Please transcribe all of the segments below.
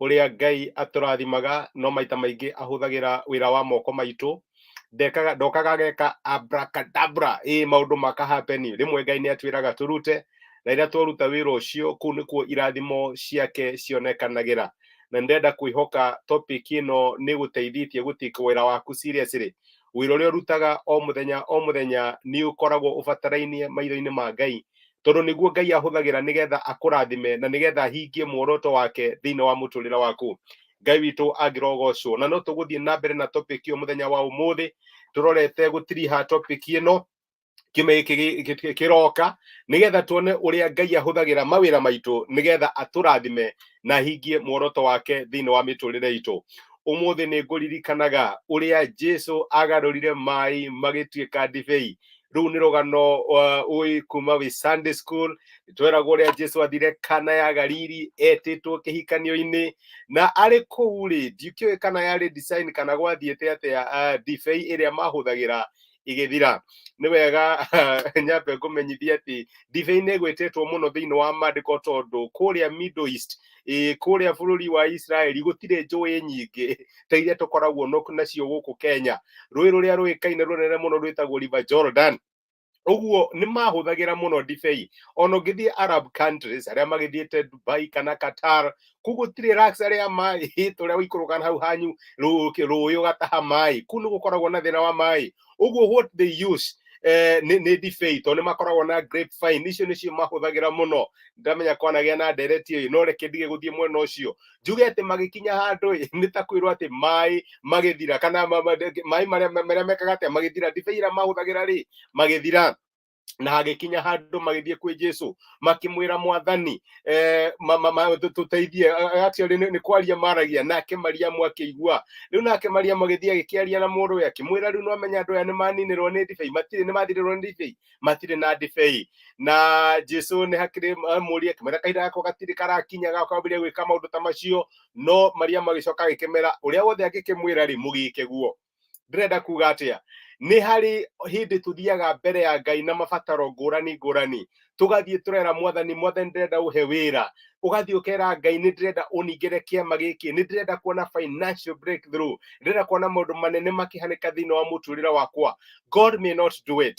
ũrĩa ngai atũrathimaga no maita maingĩ ahũthagĩra wĩra wa moko maitũ ndekaga ndokaga ageka abracadabra ĩ maũndũ maka happen rĩmwe ngai nĩ atwĩraga tũrute na rĩrĩa twaruta wĩra ũcio kũu nĩkuo irathimo ciake cionekanagĩra na ndenda kwĩhoka topic ĩno nĩ gũteithĩtie gũtika wĩra waku seriously wĩra ũrĩa ũrutaga o mũthenya o mũthenya nĩ ũkoragwo ũbatarainie maitho-inĩ ma ngai tondå nä guo ngai ahå ra nä getha akå rathime na nä getha ahingie mworoto wake thä inä wa må tå rä re waku ngai witå angä rogocwo na no tå gå thiä na mbere na topic ä yo må thenya wa å må thä tå rorete gå tiriha topic ä no kiumia gĩkĩ kĩroka nĩgetha tuone ũrĩa ngai ahũthagĩra mawĩra maitũ nĩgetha atũrathime na hingie muoroto wake thĩinĩ wa mĩtũrĩre itũ ũmũthĩ nĩ ngũririkanaga ũrĩa jesu agarũrire maĩ magĩtuĩka ndibei rĩu nĩ rũgano uh, ũĩ kuma wĩ sunday school tweragwo ũrĩa jesu athire kana ya galili etĩtwo kĩhikanio-inĩ na arĩ kũu rĩ ndikĩũĩ kana yarĩ design kana gwathiĩte atĩa uh, ndibei ĩrĩa mahũthagĩra igĩthira nĩ wega nyambe ngũmenyithia atĩ ndibei nĩ ĩgwĩtĩtwo mũno thĩinĩ wa maandĩko tondũ kũrĩa middle east ä kå rä a bå rå ri wa israeli gå tirä njå ä nyingä ta iria tå koragwo no- nacio gå kå kenya rå ä rå rä a rå ä kaine rå nene må no rwä tagwo river jordan uguo nä mahũthagĩra mũno ndibei ona ũngĩthiĩ arab countries arĩa magĩthiĩte dubai kana qatar kũu gũtirĩ luxury ya maĩ tũrĩa ũikũrũka hau hanyu rũĩ ũgataha maĩ kũu nĩ gũkoragwo na thĩna wa maĩ uguo what they use eh, nĩ nĩ ndibei tondũ nĩ makoragwo na grape vine icio nĩcio mahũthagĩra mũno ndamenya kwanagĩa na ndereti ĩyo no reke ndige gũthiĩ mwena ũcio njuge atĩ magĩkinya handũ ĩ nĩ ta kwĩrwo atĩ maĩ magĩthira kana ma- ma- maĩ marĩa marĩa mekaga atĩa magĩthira ndibei ĩrĩa mahũthagĩra rĩ magĩthira na hagĩkinya handũ magĩthiĩ kwĩ jesu makĩmwĩra mwathani eh, ma- ma- ma- tũ- tũteithie A- a- actually nĩ nĩ kwaria maragia nake mariamu akĩigua rĩu nake mariamu agĩthiĩ agĩkĩaria na mũrũ we akĩmwĩra rĩu nĩwamenya andũ aya nĩmaninĩrwo nĩ ndibei matirĩ nĩmathirĩrwo nĩ ndibei matirĩ na ndibei na jesu nĩ hakĩrĩ mũria akĩmwĩra kahinda gako gatirĩ karakinya gakambĩrĩria gwĩka maũndũ ta macio no mariamu agĩcoka agĩkĩmera ũrĩa wothe angĩkĩmwĩra rĩ mũgĩke guo ndĩrenda kuga atĩa nĩ harĩ hĩndĩ tũthiaga mbere ya ngai na mabataro ngũrani ngũrani tũgathiĩ tũrera mwathani mwathani ndĩrenda ũhe wĩra ũgathiĩ ũkera ngai nĩ ndĩrenda ũningĩre kĩama gĩkĩ nĩ ndĩrenda kuona financial breakthrough ndĩrenda kuona maũndũ manene makĩhanĩka thĩinĩ wa mũtũrĩre wakwa god may not do it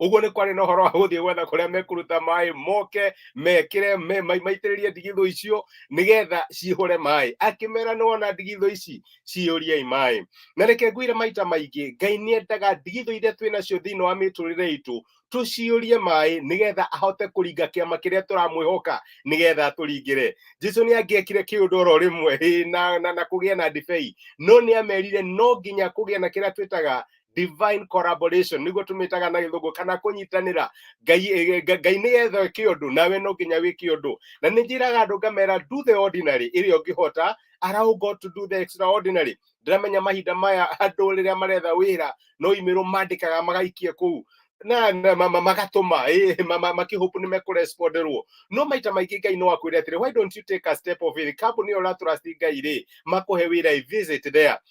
uguo ni kwari na horo wa guthie gwetha kuria mekuruta mai moke mekire maitiririe ndigitho icio nigetha cihure mai akimera ni wona ndigitho ici ciyuriei mai na reke ngwire maita maingi ngai ni endaga ndigitho iria twi nacio thiini wa miturire itu tuciurie mai nigetha ahote kuringa kiama kiria turamwihoka nigetha turingire jesu ni angiekire kiundu oro rimwe na na, na kugia na ndibei no ni amerire no nginya kugia na kiria twitaga divine collaboration niguo tumitaga na githungu kana kunyitanira ngai eh, ngai ni etho ki undu nawe no nginya wi ki undu na ni njiraga andu ngamera do the ordinary iri ungihota allow god to do the extraordinary ndiramenya mahinda maya andu riria maretha wira no imero mandikaga magaikie kuu na na- ma- ma- magatũma eh, ma- ma- makĩhope nĩ mekũresponderwo no maita maingĩ ngai no akwĩre atĩrĩ why don't you take a step of faith kambuni ĩyo ũratũrasti ngai rĩ makũhe wĩra ĩ visit there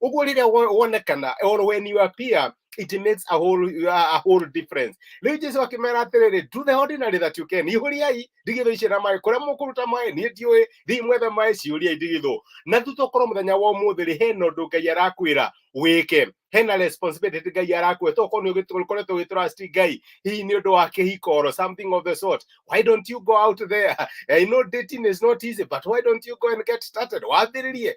uguo riria wonekana or when you appear it makes a whole a whole difference riu jesu akimera atiriri do the ordinary that you can ihuriai ndigitho ici na mai kuria mukuruta mai ni ndiui thii mwethe mai ciuriai ndigitho na tu tukorwo muthenya wa umuthi ri hena undu ngai arakwira wike hena responsibility ngai arakwira to korwo ukoretwo ugitrust ngai hihi ni undu wa kihiko or something of the sort why don't you go out there i know dating is not easy but why don't you go and get started wambiririe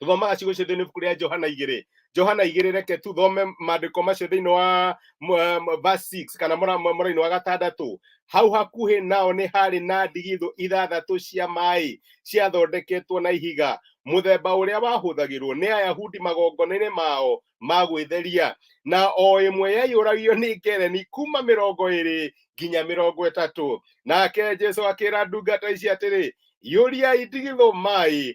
tuthomaga ciugo icio thĩinĩ ibuku rĩa johana igĩrĩ johana igĩrĩ reke tuthome maandĩko macio thĩinĩ wa verse 6 kana mũrainĩ wa gatandatũ hau hakuhĩ nao nĩ harĩ na ndigithũ ithathatũ cia maĩ ciathondeketwo na ihiga mũthemba ũrĩa wahũthagĩrwo nĩ ayahudi magongona-inĩ mao ma gwĩtheria na o ĩmwe yaiyũragio nĩ ngereni kuma mĩrongo ĩrĩ nginya mĩrongo ĩtatũ nake jesu akĩra ndungata ici atĩrĩ yũriai ndigithũ maĩ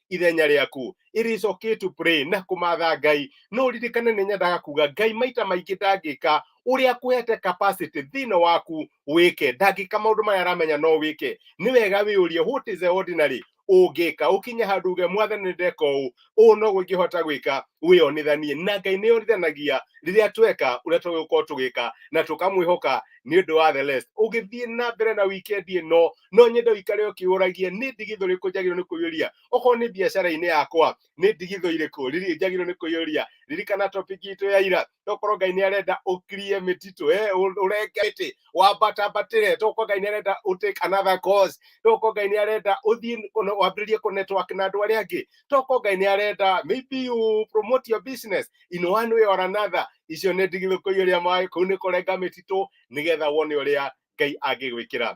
ithenya rĩaku it is okay to pray na kũmatha ngai no ririkane nĩ nyendaga kuga ngai maita maingĩ ndangĩka ũrĩa akuhete capacity thĩinĩ waku wĩke ndangĩka maũndũ maya aramenya no wĩke nĩ wega wĩyũrie what is the ordinary ũngĩka ũkinye handũ uge mwathani nĩ ndeka ũũ ũũ no gũngĩhota gwĩka wĩyonithanie na ngai nĩ yonithanagia rĩrĩa tweka ũrĩa tũgũkorwo tũgĩka na tũkamwĩhoka nĩ ũndũ wa the rest ũgĩthiĩ na mbere na wikendi ĩno no nyende ũikare ũkĩũragie nĩ ndigithũ rĩkũ njagĩrĩirwo nĩ kũiyũria okorwo nĩ biacara-inĩ yakwa nĩ ndigithũ irĩkũ riri- njagĩrĩirwo nĩ kũiyũria ririkana topic itũ ya ira tokorwo ngai nĩ arenda ũkirie mĩtitũ eh, ũ- ũrenge mĩtĩ wambatambatĩre tokorwo ngai nĩ arenda ũ take another course tokorwo ngai nĩ arenda ũthiĩ kũne- wambĩrĩrie kũ network na andũ arĩa angĩ tokorwo ngai nĩ arenda maybe you promote your business in one way or another icio nĩ ndigithũ kũiyũria maĩ kũu nĩ kũrenga mĩtitũ nĩgetha wone ũrĩa ngai angĩgwĩkĩra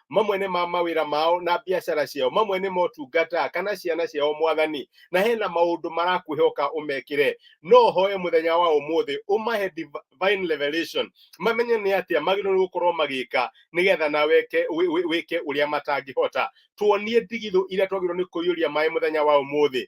mamwe nĩ ma mawĩra mao na biacara ciao mamwe nĩ motungata kana ciana ciao mwathani na hena maũndũ marakuhe ũka ũmekĩre no hoe mũthenya wa ũmũthĩ ũmahe divine revelation mamenye nĩ atĩa magĩrĩirwo nĩ gũkorwo magĩka nĩgetha na weke wĩ- wĩ- wĩke ũrĩa matangĩhota tuonie ndigithũ iria twagĩrĩirwo nĩ kũiyũria maĩ mũthenya wa ũmũthĩ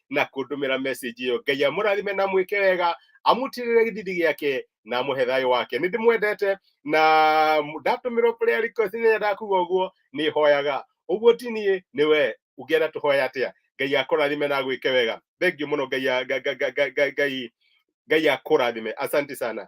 na kundumira message iyo ngai amurathime na mwike wega amutirire githidi giake na amuhe thayo wake ni ndimwendete na ndatumirwo prayer request ni ndakuga uguo ni hoyaga uguo ti ni ni we ungienda tuhoya atia ngai akurathime na gwike wega thank you muno ngai a- ga- ga- ga- ga- ga- ngai ngai akurathime asante sana